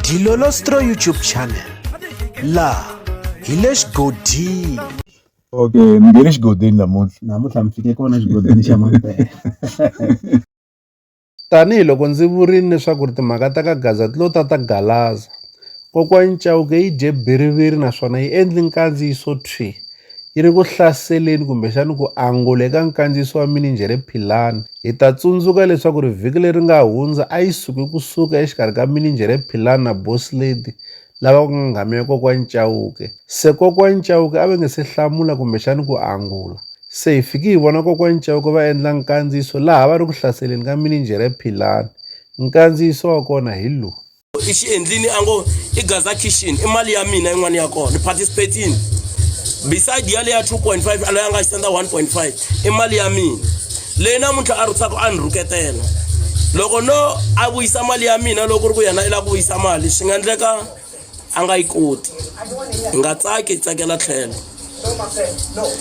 Dilolostro YouTube channel la hi le xigodini okay mi nge le xigodini namuntlha namuntlha mi fike kona xigodini xa mampela tanihiloko ndzi vurile leswaku ri timhaka ta ka gaza ti lo ta ta galaza Kokwani Chauke yi dye bhiriviri naswona yi endli nkandziyiso thwi! Yi ri ku hlaseleni kumbexani ku angula eka nkandziyiso wa mininjhere Philani. Hi ta tsundzuka leswaku ri vhiki leri nga hundza a yi suke ku suka exikarhi ka mininjhere Philani na Boss Lady lava ku nga nghamu ya Kokwani Chauke. Se Kokwani Chauke a va nge se hlamula kumbexani ku angula. Se hi fiki hi vona Kokwani Chauke va endla nkandziyiso laha va ri ku hlaseleni ka mininjhere Philani. Nkandziyiso wa kona hi lowu. i xi endlini a ngo i gaza kitchen i mali ya mina yin'wana ya kona ni participatini beside ya leya 2.5 aloyi a nga xitenda 1.5 i mali ya mina leyi namuntlha a rhutsaka a ni rhuketela loko no a vuyisa mali ya mina loko ri ku yena i lava ku vuyisa mali swi nga endleka a nga yi koti hi nga tsaki hi tsakela tlhelo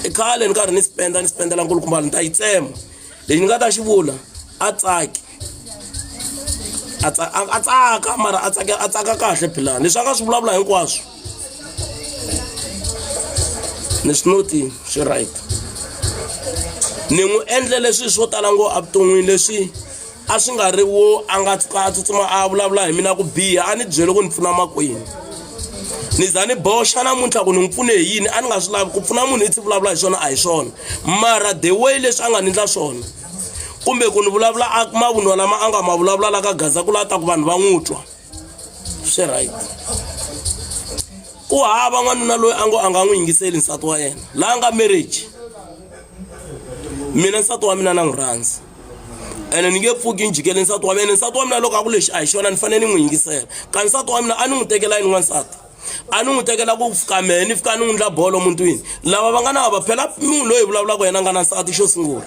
i khale ni karhi ni spenda ni spendela nkulukumbala ni ta yi tsema lexi ni nga ta xi vula a tsaki a a tsaka mara a tsaka a tsaka kahle philani leswi a nga swi vulavula hinkwaswo ni swi noti swi right ni n'wi endle leswi swo tala ngo evuton'wini leswi a swi nga ri wo a nga tshuka a tsutsuma a vulavula hi mina ku biha a ni byele ku ni pfuna makwini ni za ni boxa namuntlha ku ni n'wi pfune hi yini a ni nga swi lavi ku pfuna munhu i tshi vulavula hi swona a hi swona mara the way leswi a nga ni endla swona kumbe ku ni vulavula a mavunwa lama a nga ma vulavula la ka gaza ku lata ku vanhu va n'wi twa swi right ku hava n'wanuna loyi a ngo a nga n'wi yingiseli nsati wa yena laha nga marriage mina nsati wa mina na n'wi rhandza ene ni nge pfuki ni jikele nsati wa mina nsati wa mina loko a ku lexi a hi xona ni fanele ni n'wi yingisela ka nsati wa mina a ni n'wi tekela yini n'wansati a ni n'wi tekela ku fika mehe ni fika ni n'wi ndla bolo mutwini lava va nga na vava phela munhu loyi vulavulaka yena a nga na nsati xo sungula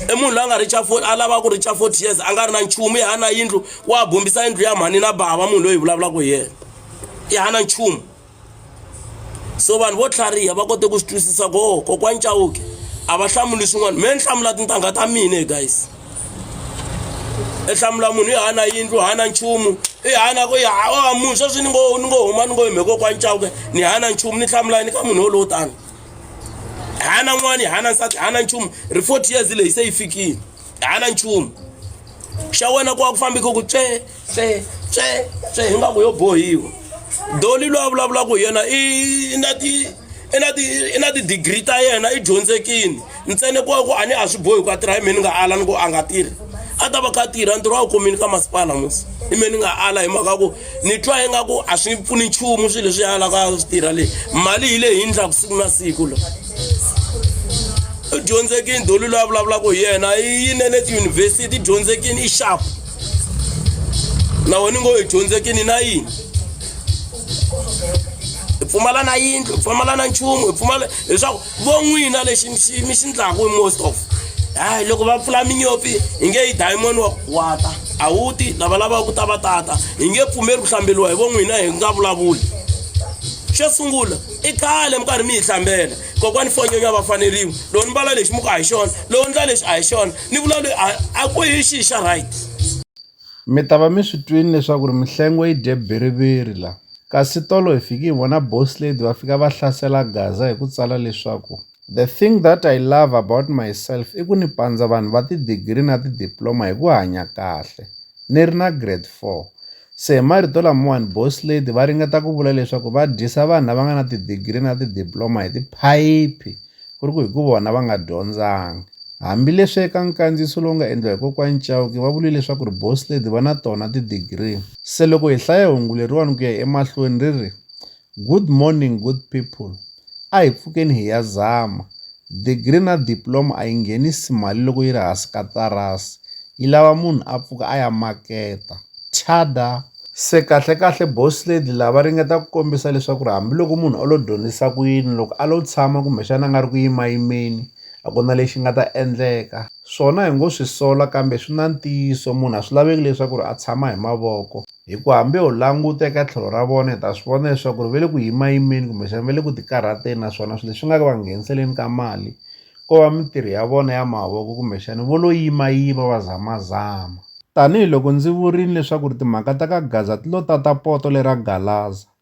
i munhu loyi a nga richa fort a lava ku richa forty years a nga ri na nchumu ya na yindlu wa bombisa yindlu ya mhani na bava munhu loyi vulavulaka hi yena ya na nchumu so vanhu vo tlhariha va kote ku swi twisisa ku oh, kokwani cawuke a va hlamuli swin'wana me ni hlamula tintangha ta mina guys i hlamula munhu i hana yindlu hana nchumu i hana ku ya a munhu sweswi ni ngo ni ngo huma ni ngo hi mheko kwa ncawuke ni hana nchumu ni hlamula yini ka munhu wolowo tani hana n'wana i hana nsati hana nchumu ri forty years leyi se yi fikile hana nchumu xa wena ku wa ku fambike ku tswee tse tse tse ingaku yo bohiwa doli loyi a vulavulaka hi yena i na ti i na ti i na ti-degree ta yena i dyondzekini ntsene ku ku a ni a swi bohi ku a tirha hi mhe ni nga ala ni ku a nga tirhi a ta va kha a tirha ntirho a wu kumini ka masipala musi hi mhe ni nga ala hi mhaka ku ni twa ingaku a swi pfuni nchumu swilo leswi alaka a swi tirha leyi mali hi leyi hindlaku siku na siku lo i dyondzekini doli loyi a vulavulaka hi yena i yinele tiyunivhesiti i dyondzekini i xapu na wena ngo hi dyondzekini na yini hi pfumala na yindlu hi pfumala na nchumu hi pfumala leswaku vo n'wina lexi mi xi- mi xi ndlaku hi most of hayi loko va pfula minyopfi hi nge yi diamond wa wata a wu ti lava lavaka ku ta va tata hi nge pfumeli ku hlambeliwa hi vo n'wina hi nga vulavuli xo sungula i khale mi karhi mi yi hlambela kokwani fonyonya va faneriwa lowu ni mbala lexi muka a hi xona lowu ndla lexi a hi xona ni vula loyi a a ku hi xi xa right mi ta va mi swi twini leswaku ri mihlengo yi dye biriviri la kasi tolo hi fiki hi vona boss lady va fika va hlasela gaza hi ku tsala leswaku the thing that i love about myself i ku ni pandza vanhu va tidigiri na tidiploma hi ku hanya kahle ni ri na grade four Se hi marito lamawani, Boss Lady va ringeta ku vula leswaku va dyisa vanhu lava nga na tidigiri na tidiploma hi tiphayiphi ku ri ku hi ku vona va nga dyondzanga. Hambileswi eka nkandziyiso lowu nga endliwa hi Kokwani Chauke va vurile leswaku ri Boss Lady va na tona tidigiri, se loko hi hlaya hungu leriwani ku ya emahlweni ri ri, Good morning good people a hi pfukeni hi ya zama degree na diploma a yi nghenisi mali loko yi ri hansi ka tarasi yi lava munhu a pfuka a ya maketa thada se kahlekahle boss lady lava ringeta ku kombisa leswaku ri hambiloko munhu o lo dyondzisa ku yini loko a lo tshama kumbexana a nga ri ku yimayimeni a ku na lexi nga ta endleka swona hi ngo swi sola kambe swi na ntiyiso munhu a swi laveki leswaku ri a tshama hi mavoko Hikuva hambi ho languta eka tlhelo ra vona hi ta swi vona leswaku ri va le ku yimayimeni kumbexana va le ku tikarhateni naswona swilo leswi nga va ngheniseleni ka mali ko va mintirho ya vona ya mavoko kumbexana vo lo yimayima va zamazama. Tanihi loko ndzi vurile leswaku ri timhaka ta ka Gaza ti lo tata poto lera Galaza.